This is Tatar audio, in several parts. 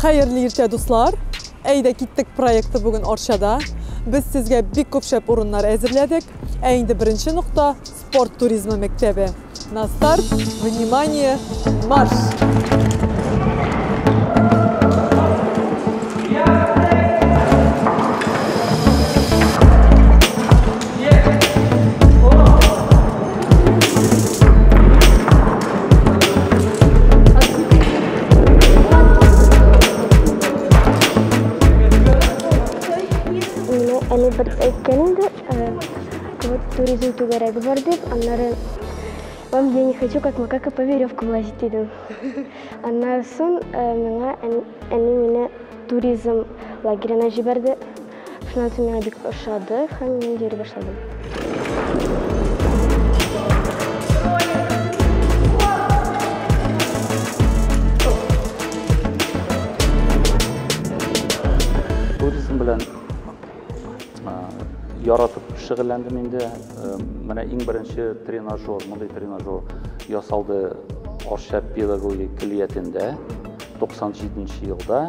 Хәерле иртә, дуслар! Әйдә киттек проекты бүген Арчада. Без сезгә бик күп шәп урыннар әзерләдек. Ә инде беренче нокта спорт туризмы мәктәбе. На старт, внимание, марш! дорогу бордюр, аннары вам я не хочу как макака по веревкам лазить идем. Аннары сон э, миңа әни мине туризм лагерена җибәрде. Шуннан соң миңа бик ошады һәм мин йөри башладым. Туризм белән яратып шөгыльләндем инде. Менә иң беренче тренажер, мондый тренажер ясалды Арча педагогик клиятендә 97 елда.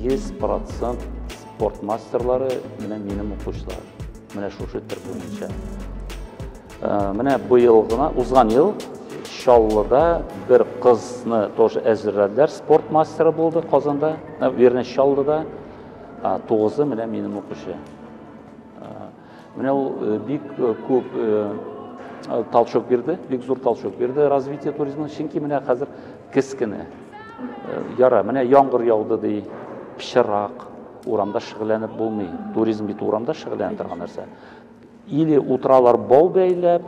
Йөз процент спорт мастерлары менә минем укучылар. Менә шушы төр буенча. Э, менә быел гына, узган ел Чаллыда бер кызны тоже әзерләделәр, спорт мастеры булды Казанда, э, вернее, Чаллыда. Тугызы менә минем укучы. Менә ул бик күп толчок бирде, бик зур толчок бирде развитие туризмына, чөнки менә хәзер кез кенә. Яра, менә яңгыр яуды ди, пычырак, урамда шөгыльләнеп булмый. Туризм бит урамда шөгыльләнә торган нәрсә. Или утыралар бау бәйләп,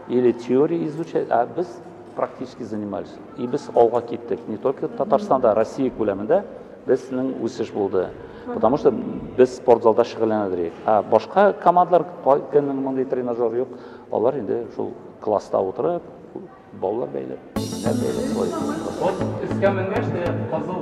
или теория изучать, а без практически занимались. И без алга киттек. Не только Татарстанда, Россия күләмендә безнең үсеш булды. Потому что без спортзалда шөгыльләнәдек. А башка командалар көннең мондый тренажер юк. Алар инде шул класста утырып, баллар бәйләп, нәр бәйләп. Исламның нәрсә кызыл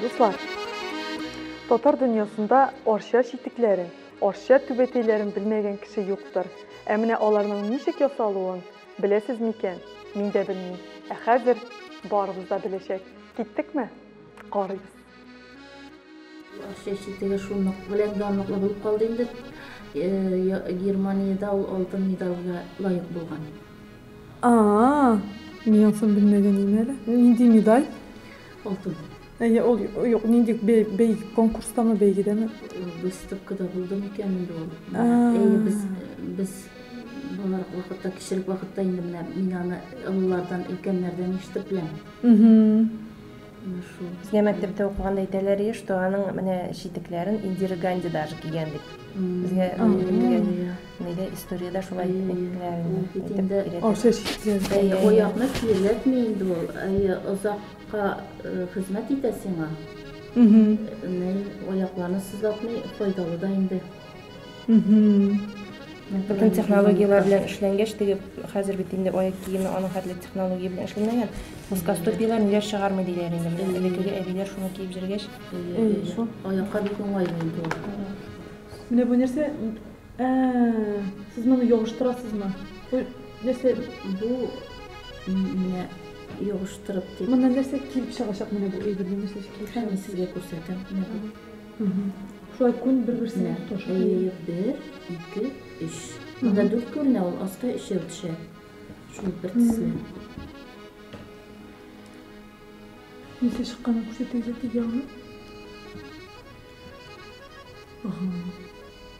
Дуслар, татар дөньясында арча читекләрен, арча түбәтәйләрен белмәгән кеше юктыр. Ә менә аларның ничек ясалуын беләсез микән? Мин дә белмим. Ә хәзер барыбыз да беләчәк. Киттекме? Карыйбыз. Акча читеге шунык белән данлыклы булып калды инде. Германиядә ул алтын медальгә лаек булган. А-а, мин ансын белмәгән идем әле. Нинди медаль? Алтын. Әйе, ул юк, нинди бәй, конкурстамы, бәйгедәме? Выставкада булды микән инде ул? Әйе, без без балалар вакытта, кечерек вакытта инде менә мин аны олылардан, өлкәннәрдән ишетеп беләм. Безгә мәктәптә укыганда әйтәләр еш, что аның менә читекләрен Индира Ганди даже кигән дип. Безгә нигә историядә шулай әйттеләр инде. Аша читләр. Аякны чирләтми инде ул. Әйе, озакка хезмәт итә сиңа. Аякларны сызлатмый, файдалы да инде. Бөтен технологияләр белән эшләнгәч, теге хәзер бит инде аяк киеме аның хәтле технология белән эшләнгән. Плоскостопияләр ниләр чыгармый диләр инде. Менә Элеккеге әбиләр шуны киеп җөргәч, Әйе, шул. Аякка бик уңай инде ул. Менә бу нәрсә? Ә, сез моны ябыштырасызмы? Бу нәрсә? Бу менә ябыштырып дип. Моннан нәрсә килеп чыгачак менә бу әйбердән нәрсә килеп чыгачак? Сезгә күрсәтәм. Шулай күн бер-берсенә тоташ. Әйе, бер, ике, өч. Монда дүрт күренә, ул аска өчәү төшә. Шул бер төсле. Ничә чыкканын күрсәтегез әти ягына. Ага.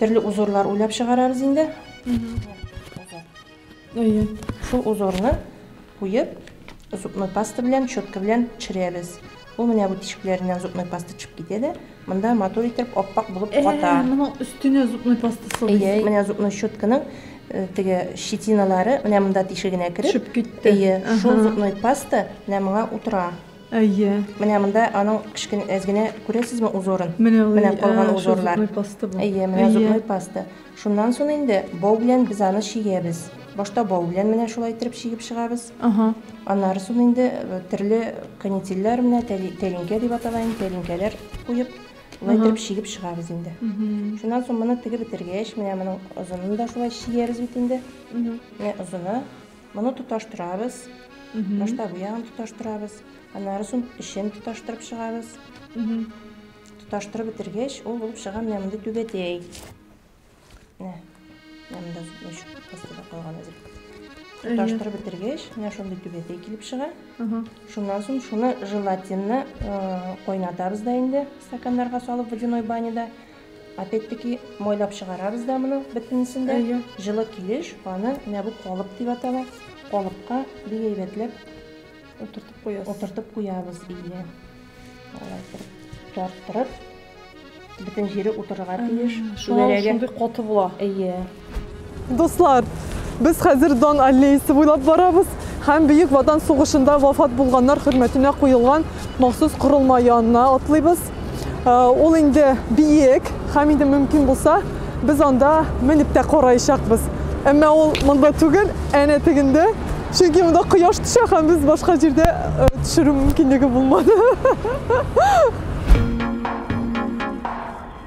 Төрле узорлар уйлап чыгарабыз инде. Әйе. Шул узорны куеп, зубной паста белән, щетка белән төшерәбез. Ул менә бу тишекләреннән зубной паста төшеп китә дә, монда матур итеп ап-ак булып ката. Әйе, моның өстенә зубной паста салабыз. Әйе, менә зубной щетканың э, теге щетиналары менә монда тишегенә кереп төшеп китте. Әйе, шул зубной паста менә моңа утыра. Әйе. Менә монда аның кечкенә әз генә күрәсезме узорын? Менә ул, Менә калган ә, шул узорлар. зубной паста бу. Әйе, менә Әйе. зубной паста. Шуннан соң инде бау белән без аны чигәбез. Башта бау белән менә шулай иттереп чигеп чыгабыз. Ага. Аннары соң инде э, төрле канителләр менә тәли- тәлинкә дип атала инде, тәлинкәләр куеп, шулай Ага. иттереп чигеп чыгабыз инде. Мгм. Шуннан соң моны тегеп бетергәч, менә моның озынын да шулай чигәбез бит инде. Мгм. Менә озыны. Моны тоташтырабыз. Башта бу ягын тоташтырабыз. Аннары соң эчен тоташтырып чыгабыз. Тоташтырып бетергәч, ул булып чыга менә мондый түбәтәй. Менә. Менә монда өч постыда калган әзер. Тоташтырып бетергәч, менә шундый түбәтәй килеп чыга. Шуннан соң шуны желатинны э, кайнатабыз да инде стаканнарга салып водяной баняда. Опять-таки, майлап чыгарабыз да моның бөтенесен дә. Әйе. Җылы килеш аны менә бу калып дип атала. Калыпка бик әйбәтләп утыртып куябыз. Утыртып куябыз бия. Алай тарттырып, бөтен җире утырырга тиеш. Шулай шундый каты була. Әйе. Дуслар, без хәзер Дон аллеясы буйлап барабыз һәм Бөек Ватан сугышында вафат булганнар хөрмәтенә куелган махсус корылма янына атлыйбыз. Э, ул инде биек һәм инде мөмкин булса, без анда менеп тә караячакбыз. Әмма ул монда түгел, әнә тегендә. Чөнки монда кояш төшә һәм без башка җирдә э, төшерү мөмкинлеге булмады.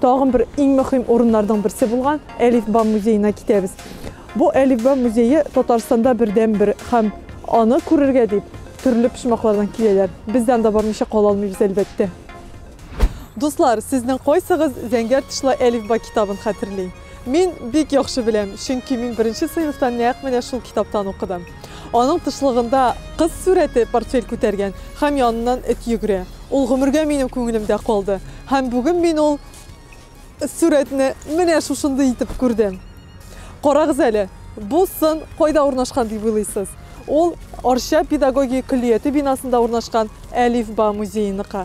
Тагын бер иң мөһим урыннарның берсе булган Әлифба музеена китәбез. Бу Әлифба музее Татарстанда бердәнбер һәм аны күрергә дип төрле почмаклардан киләләр. Без дә анда бармыйча кала алмыйбыз, әлбәттә. Дуслар, сезнең кайсыгыз зәңгәр тышлы Әлифба китабын хәтерли? Мин бик яхшы беләм, чөнки мин беренче сыйныфта нәкъ менә шул китаптан укыдым. Аның тышлыгында кыз сурәте портфель күтәргән һәм яныннан эт йөгерә. Ул гомергә минем күңелемдә калды. Һәм бүген мин ул сурәтне менә шушындый итеп күрдем. Карагыз әле, бу сын кайда урнашкан дип уйлыйсыз? Ул Арча педагогия көллияте бинасында урнашкан Әлифба музееныкы.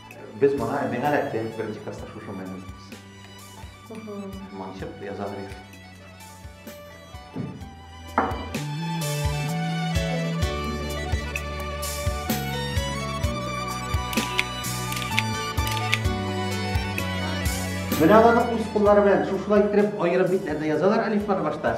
Без моңа миңа рәхмәт беренче класста шушы менә. Манчып язалар. Менә аларны үз куллары белән шушылай иттереп аерып битләренә язалар әлифбаны башта.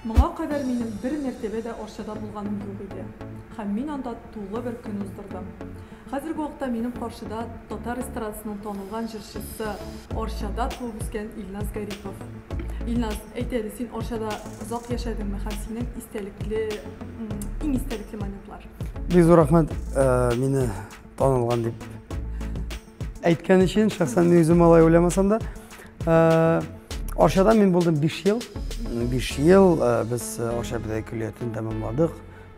Моңа кадәр минем бер мәртәбә дә Арчада булганым юк иде. Һәм мин анда тулы бер көн уздырдым. Хәзерге вакытта минем каршыда татар эстрадасының танылган җырчысы, Арчада туып үскән Илназ Гарипов. Илназ, әйт әле, син Арчада озак яшәдеңме һәм синең истәлекле, иң истәлекле моментлар? Бик зур рәхмәт, э, мине танылган дип Әйткән өчен, шәхсән мин үзем алай уйламасам да, э, Арчада мин булдым 5 ел. 5 ел э, без э, Арча бедәй көллиятен тәмамладык,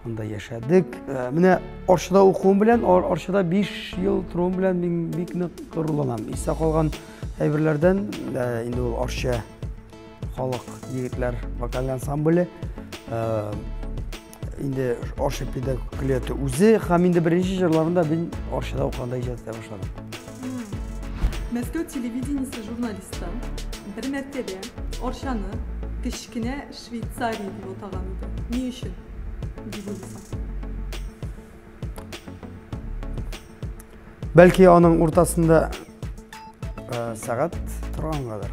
анда яшәдек. Менә Арчада укуым белән, Арчада 5 ел торуым белән мин бик нык горурланам. Истә калган әйберләрдән инде ул Арча халык егетләр вокаль ансамбле инде арча педагогияте үзе һәм инде беренче җырларында мин арчада укыганда иҗат итә башладым мәскәү телевидениесе журналисты бер мәртәбә арчаны кечкенә швейцария дип атаган иде ни өчен дип уйлыйсың бәлки аның уртасында ә, сәгать торгангадыр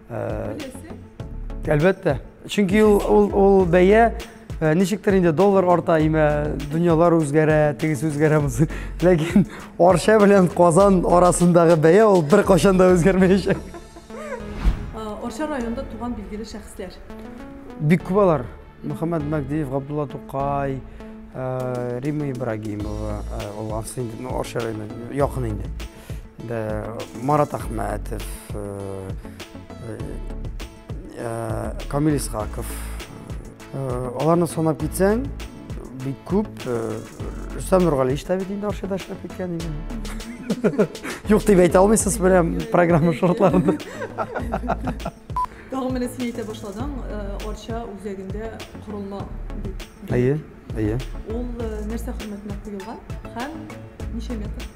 Әлбәттә. Чөнки ул ул ул бәя э, ничектер инде доллар арта, имә дөньялар үзгәрә, тегесе үзгәрә булсын. Ләкин Арча белән Казан арасындагы бәя ул бер кашан да үзгәрмәячәк. Арча районында туган билгеле шәхесләр. Бик күп алар. Мөхәммәд Мәгдиев, Габдулла Тукай, э, Рима Ибрагимова, э, ул Арча районы якын инде. Марат Ахмәтов, Камил Исхаков. Аларны санап китсәң, бик күп. Рөстәм Нургалиевич та бит инде Арчада эшләп киткән иде. Юк дип әйтә алмыйсыз менә программа шартларында. Тагын менә син әйтә башладың, Арча үзәгендә корылма. Әйе, әйе. Ул нәрсә хөрмәтенә куелган һәм ничә метр?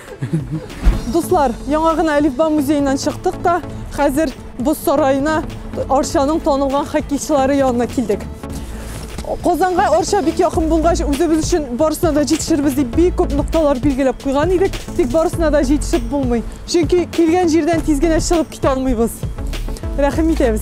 Дуслар, яңа гына Әлифба музееннан чыктык та, хәзер боз сараена Арчаның танылган хоккейчылары янына килдек. Казанга Арча бик якын булгач, үзебез өчен барысына да җитешербез дип бик күп нокталар билгеләп куйган идек, тик барысына да җитешеп булмый. Чөнки килгән җирдән тиз генә чыгып китә алмыйбыз. Рәхим итәбез.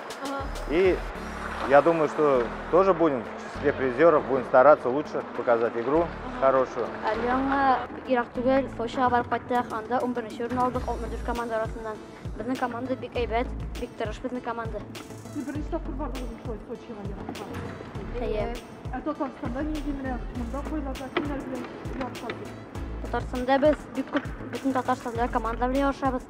Ага. И я думаю, что тоже будем в числе призеров, будем стараться лучше показать игру хорошую. Әле яңа ерак түгел, Сочига барып кайттык, анда 11 нче урын алдык 64 команда арасыннан. Безнең команда бик әйбәт, бик тырыш безнең команда. Сез беренче тапкыр бардыгызмы шулай Сочига ярышка? Әйе. Ә Татарстанда нинди менә монда кайларда кемнәр белән ярышасыз? Татарстанда без бик күп бөтен Татарстанда командалар белән ярышабыз.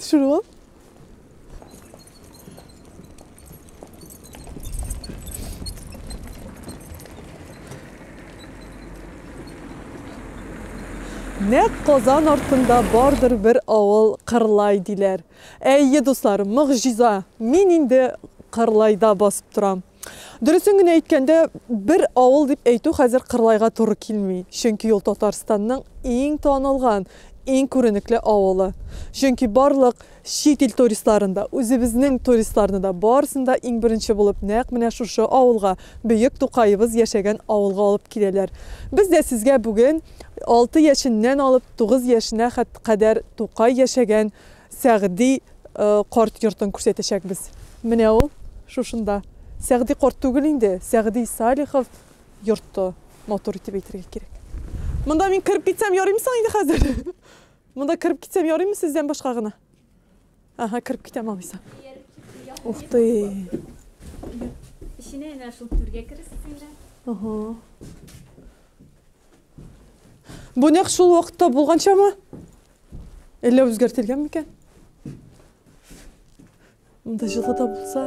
Шурлап. Нәк Казан артында бардыр бер авыл Кырлай диләр. Әйе, дуслар, могҗиза. Мин инде Кырлайда басып торам. Дөресен генә әйткәндә, бер авыл дип әйтү хәзер Кырлайга туры килми, чөнки ул Татарстанның иң танылган, иң күренекле авылы. Чөнки барлык чит ил туристларын да, үзебезнең туристларны да, барысын да иң беренче булып нәкъ менә шушы авылга, бөек Тукаебыз яшәгән авылга алып киләләр. Без дә сезгә бүген алты яшеннән алып тугыз яшенә кадәр Тукай яшәгән Сәгъди карт йортын күрсәтәчәкбез. Менә ул шушында. Сәгъди карт түгел инде, Сәгъди Салихов йорты, матур итеп әйтергә кирәк. Монда мин кереп китсәм ярыймы соң инде хәзер? Монда кереп китсәм ярыймы сездән башка гына? Ага, кереп китәм алайса. Ух ты. Эченә әнә шул түргә кересез инде. Ага. Бу нәкъ шул вакытта булганчамы? Әллә үзгәртелгән микән? Монда җылы да булса.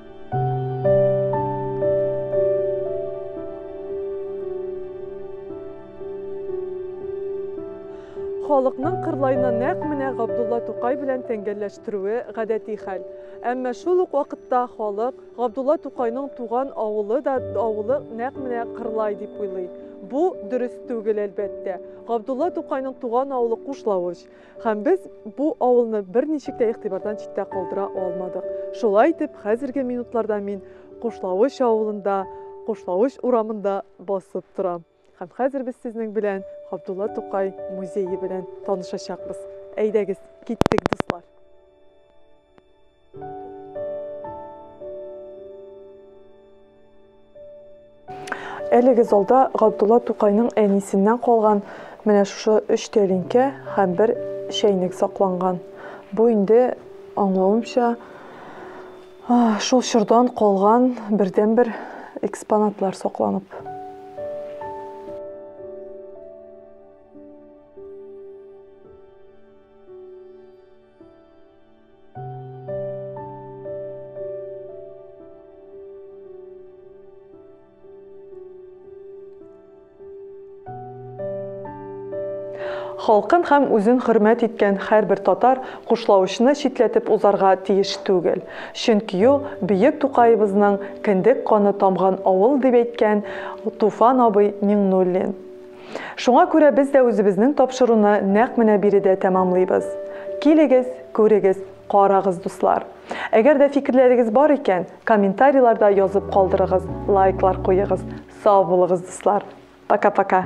халыкның кырлайны нәкъ менә Габдулла Тукай белән тәңгәлләштерүе гадәти хәл. Әмма шул ук вакытта халык Габдулла Тукайның туган авылы да авылы нәкъ менә Кырлай дип уйлый. Бу дөрес түгел, әлбәттә. Габдулла Тукайның туган авылы Кушлавыч. Һәм без бу авылны берничек тә игътибардан читтә калдыра алмадык. Шулай итеп, хәзерге минутларда мин Кушлавыч авылында, Кушлавыч урамында басып торам. Һәм хәзер без сезнең белән Габдулла Тукай музее белән танышачакбыз. Әйдәгез, киттек, дуслар! Әлеге залда Габдулла Тукайның әнисеннән калган менә шушы өч тәлинкә һәм бер чәйнек сакланган. Бу инде аңлавымча шул чордан калган бердәнбер экспонатлар сакланып. Халкын һәм үзен хөрмәт иткән һәрбер татар кушлаучны читләтеп узарга тиеш түгел. Чөнки ул бөек Тукаебызның кендек каны тамган авыл, дип әйткән Туфан абый Миңнуллин. Шуңа күрә без дә үзебезнең тапшыруны нәкъ менә биредә тәмамлыйбыз. Килегез, күрегез, карагыз, дуслар! Әгәр дә фикерләрегез бар икән, комментарийларда язып калдырыгыз, лайклар куегыз. Сау булыгыз, дуслар! Пока-пока!